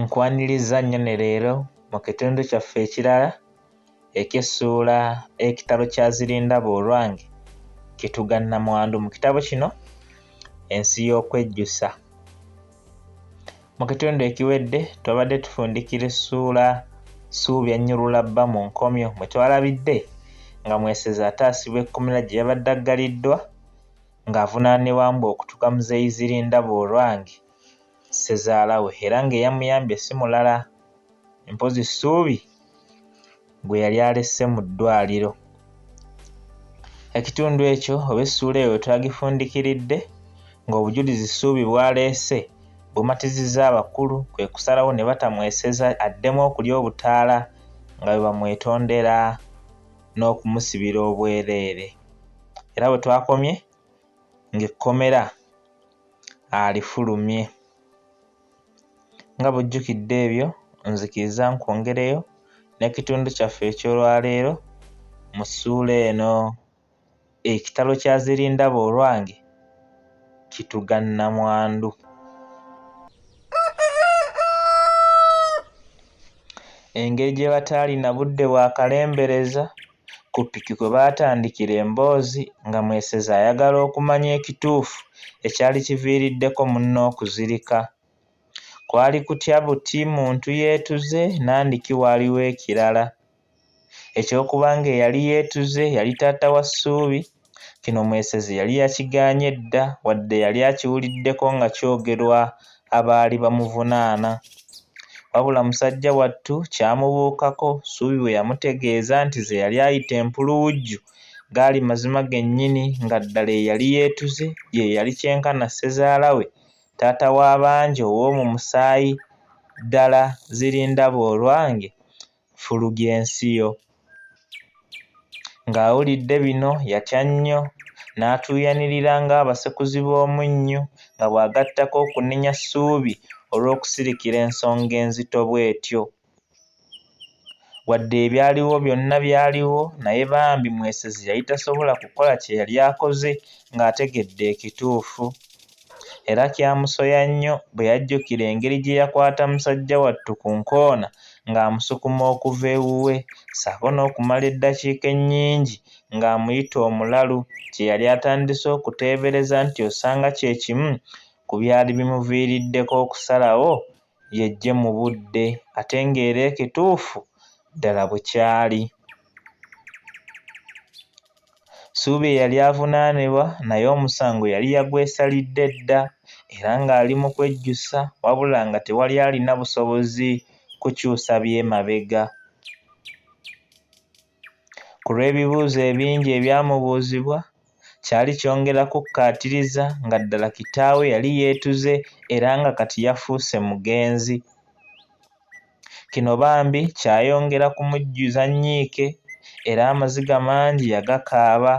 Nkwanirizza nnyo ne leero mu kitundu kyaffe ekirala eky'essuula ekitabo kya Zirindaba olwange kituga Nnamwandu mu kitabo kino Ensi y'okwejjusa. Mu kitundu ekiwedde twabadde tufundikira essuula Ssuubi annyulula bba mu nkomyo mwe twalabidde nga Mwesezi ataasibwa ekkomera gye yabadde aggaliddwa ng'avunaanibwa mbu okutuga Muzeeyi Zirindaba olwange. ssezaala we era ng'eyamuyambye si mulala mpozzi Ssuubi gwe yali alese mu ddwaaliro. Ekitundu ekyo oba essuula eyo twagifundikiridde ng'obujulizi Ssuubi bw'aleese bumatizizza abakulu kwe kusalawo ne batamweseza addemu okulya obutaala nga bwe bamwetondera n'okumusibira obwereere era we twakomye ng'ekkomera alifulumye. Nga bw'ojjukidde ebyo, nzikiriza nkwongereyo n'ekitundu kyaffe eky'olwaleero mu ssuula eno. Ekitalo kya Zirindaba olwange kituga nnamwandu. Engeri gye bataalina budde bwa kalembereza. ku ppiki kwe baatandikira emboozi nga Mwesezi ayagala okumanya ekituufu ekyali kiviiriddeko munne okuzirika. Kwali kutya buti muntu yeetuze nandiki waaliwo ekirala. Eky'okuba ng'eyali yeetuze yali taata wa Ssuubi Kino Mwesezi yali yakigaanye dda wadde yali akiwuliddeko nga kyogerwa abaali bamuvunaana. Wabula Musajjawattu kyamubuukako Ssuubi bwe yamutegeeza nti ze yali ayita empuluwujju gaali mazima gennyini nga ddala eyali yeetuze ye yali kyenkana ssezaala we, taata w'abangi ow'omu musaayi ddala Zirindabaolwange Fulugensiyo. Ng'awulidde bino yatya nnyo, n'atuuyanirira ng'abasekuzi b'omunnyu nga bw'agattako okunenya Ssuubi olw'okusirikira ensonga enzito bw'etyo. Wadde ebyaliwo byonna byaliwo, naye bambi Mwesezi yali tasobola kukola kye yali akoze ng'ategedde ekituufu. era kyamusoya nnyo bwe yajjukira engeri gye yakwata musajja wattu ku nkoona ng'amusukuma okuva ewuwe ssaako n'okumala eddakiika ennyingi ng'amuyita omulalu kye yali atandise okuteebereza nti osanga kye kimu ku byali bimuviiriddeko okusalawo yejje mu budde ate ng'era ekituufu ddala bukyali. Ssuubi eyali avunaanibwa naye omusango yali yagwesalidde dda era ng'ali mu kwejjusa wabula nga tewali alina busobozi kukyusa by'emabega. Ku lw'ebibuuzo ebingi ebyamubuuzibwa, kyali kyongera kukkaatiriza nga ddala kitaawe yali yeetuze era nga kati yafuuse mugenzi. Kino bambi kyayongera kumujjuza nnyiike era amaziga mangi yagakaaba.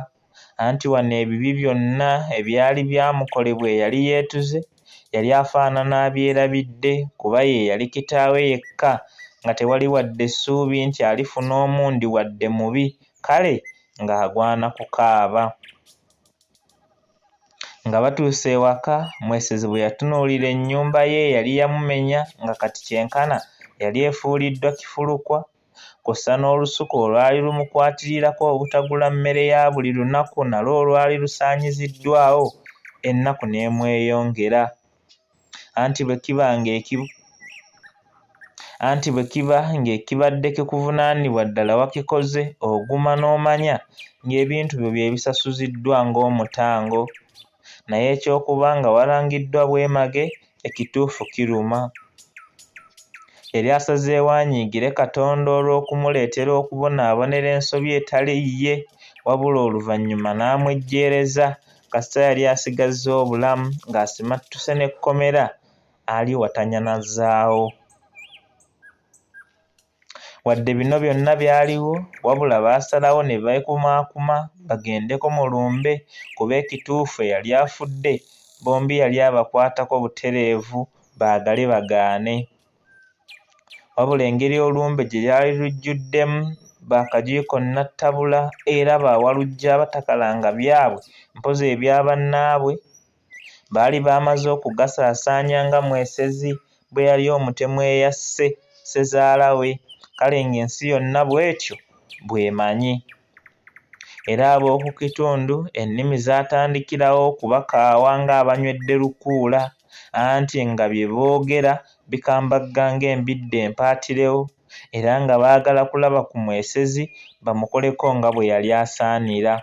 anti wano ebibi byonna ebyali byamukolebwa eyali yeetuze yali afaanana abyerabidde kuba ye yali kitaawe yekka nga tewali wadde ssuubi nti alifuna omundi wadde mubi kale ng'agwana kukaaba. Nga batuuse ewaka, Mwesezi bwe yatunuulira ennyumba ye eyali yamumenya nga kati kyenkana yali efuuliddwa kifulukwa kw'ossa n'olusuku olwali lumukwatirirako obutagula mmere ya buli lunaku nalwo olwali lusaanyiziddwawo, ennaku n'emweyongera. Anti bwe kiba ng'eki anti bwe kiba ng'ekibadde kikuvunaanibwa ddala wakikoze, oguma n'omanya ng'ebintu byo bye bisasuziddwa ng'omutango. naye eky'okuba nga walangiddwa bwemage ekituufu kiruma. Yali asazeewo anyiigire Katonda olw'okumuleetera okubonaabonera ensobi etali yiye wabula oluvannyuma n'amwejjeereza kasita yali asigazza obulamu ng'asimattuse n'ekkomera aliwatanyanazaawo. Wadde bino byonna byaliwo, wabula baasalawo ne beekumaakuma bagendeko mu lumbe kuba ekituufu eyali afudde bombi yali abakwatako butereevu baagale bagaane. Wabula engeri olumbe gye lyali lujjuddemu ba kagiiko nnattabula era ba Walujja abatakalanga byabwe mpozzi ebya bannaabwe, Baali baamaze okugasaasaanya nga Mwesezi bwe yali omutemu eyasse ssezaala we, kale ng'ensi yonna bw'etyo bw'emanyi. Era ab'oku kitundu ennimi zaatandikirawo okubakaawa ng'abanywedde lukuula, anti nga bye boogera bikambagga ng'embidde empaatirewo, era nga baagala kulaba ku Mwesezi bamukoleko nga bwe yali asaanira.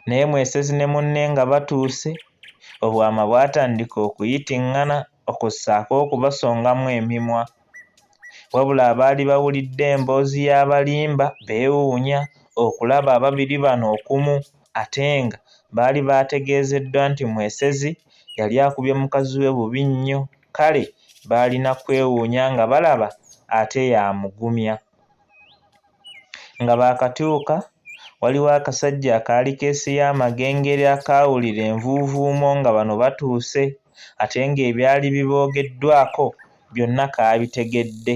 Naye Mwesezi ne munne nga batuuse, obwama bwatandika okuyiting'ana okussaako okubasongamu emimwa. Wabula abaali bawulidde emboozi y'abalimba beewuunya okulaba ababiri bano okumu ate nga baali baategeezeddwa nti Mwesezi yali akubye mukazi we bubi nnyo kale baalina kwewuunya nga balaba ate y'amugumya. Nga baakatuuka, waliwo akasajja akaali keesiye amagengere akaawulira envuuvuumo nga bano batuuse ate ng'ebyali biboogeddwako byonna kaabitegedde.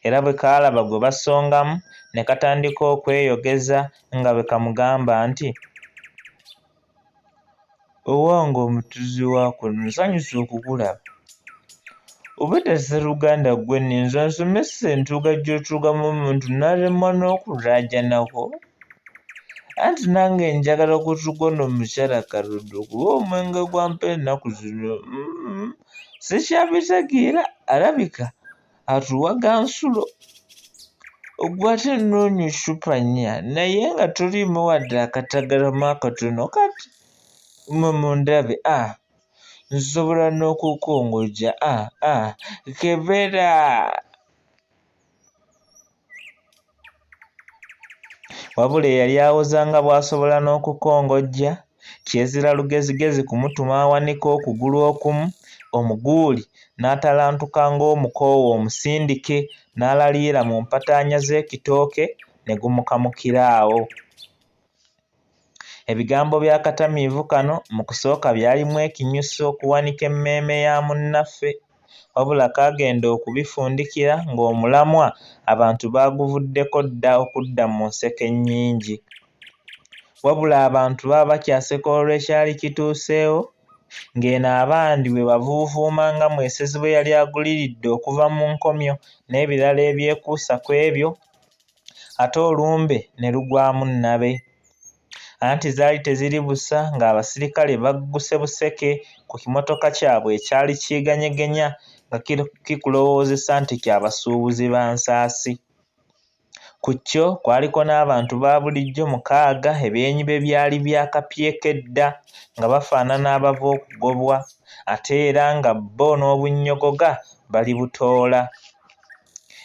Era bwe kaalaba gwe basongamu ne katandika okweyogeza nga bwe kamugamba nti, Owange omutuzi wa kuno nsanyuse okukulaba. Obwedda sseruganda ggwe ninza nsomesa entuuga gy'otuugamu omuntu n'alemwa n'okulaajanako. Anti nange njagala okutuuga ono omukyala kaludde okuba omwenge gwampa ennaku zino. Mm-hmm. Sikyabitegeera alabika atuwaga nsulo ogwa ate nnoonya eccupa nnya naye nga toliimu wadde akatagalamu akatono kati mwe mundabe a ah, nsobola n'okukongojja a ah, a ah, kebera wabula eyali awoza nga bw'asobola n'okukongojja kyezira lugezigezi kumutuma awanika okugulu okumu omuguuli n'atalantuka ng'omukoowu omusindike n'alaliira mu mpataanya z'ekitooke ne gumukamukira awo. Ebigambo by'akatamiivu kano mu kusooka byalimu ekinyusi okuwanika emmeeme ya munnaffe wabula kaagenda okubifundikira ng'omulamwa abantu baaguvuddeko dda okudda mu nseko ennyingi. Wabula abantu baba bakyaseka olw'ekyali kituuseewo ng'eno abandi bwe bavuuvuuma nga Mwesezi bwe yali aguliridde okuva mu nkomyo n'ebirala ebyekuusa ku ebyo. ate olumbe ne lugwamu nnabe. Anti zaali teziri busa ng'abasirikale bagguse buseke ku kimotoka kyabwe ekyali kyeganyegenya nga kikulowoozesa nti kya basuubuzi ba nsaasi. Ku kyo kwaliko n'abantu ba bulijjo mukaaga ebyenyi bye byali byakapyeko edda nga bafaanana abava okugobwa ate era nga bo n'obunnyogoga balibutoola.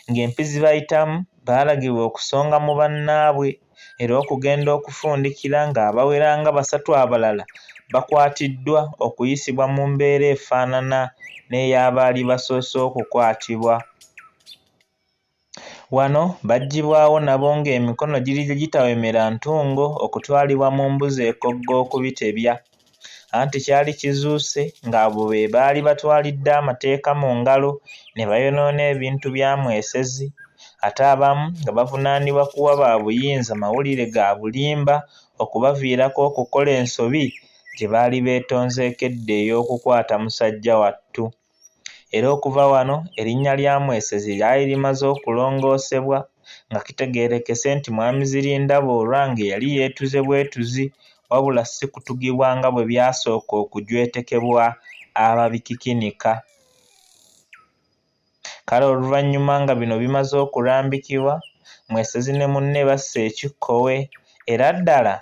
ng'empi zibayitamu baalagirwa okusonga mu bannaabwe era okugenda okufundikira ng'abawera nga basatu abalala bakwatiddwa okuyisibwa mu mbeera efaanana n'ey'abaali basoose okukwatibwa. Wano baggyibwawo nabo ng'emikono giri gye gitawemera ntungo okutwalibwa mu mbuzi ekogga okubitebya. Anti kyali kizuuse ng'abo be baali batwalidde amateeka mu ngalo ne bayonoona ebintu bya Mwesezi ate abamu nga bavunaanibwa kuwa ba buyinza mawulire ga bulimba okubaviirako okukola ensobi gye baali beetonzeeko edda ey'okukwata musajjawattu. era okuva wano erinnya lya Mwesezi lyali limaze okulongoosebwa nga kitegeerekese nti Mwami Zirindaba Orange yali yeetuze bwetuzi wabula si kutugibwa nga bwe byasooka okujwetekebwa ababikikinika. Kale oluvannyuma nga bino bimaze okulambikibwa, Mwesezi ne munne bassa ekikkowe era ddala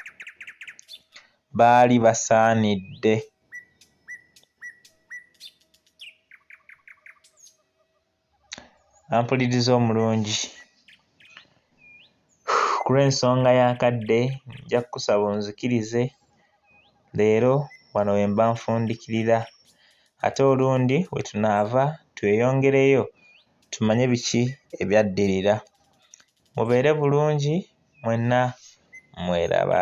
baali basaanidde. ampuliriza omulungi ku lw'ensonga y'akadde nja kukusaba onzikirize leero wano we mba nfundikirira ate olundi we tunaava tweyongereyo tumanye biki ebyaddirira mubeere bulungi mwenna mweraba.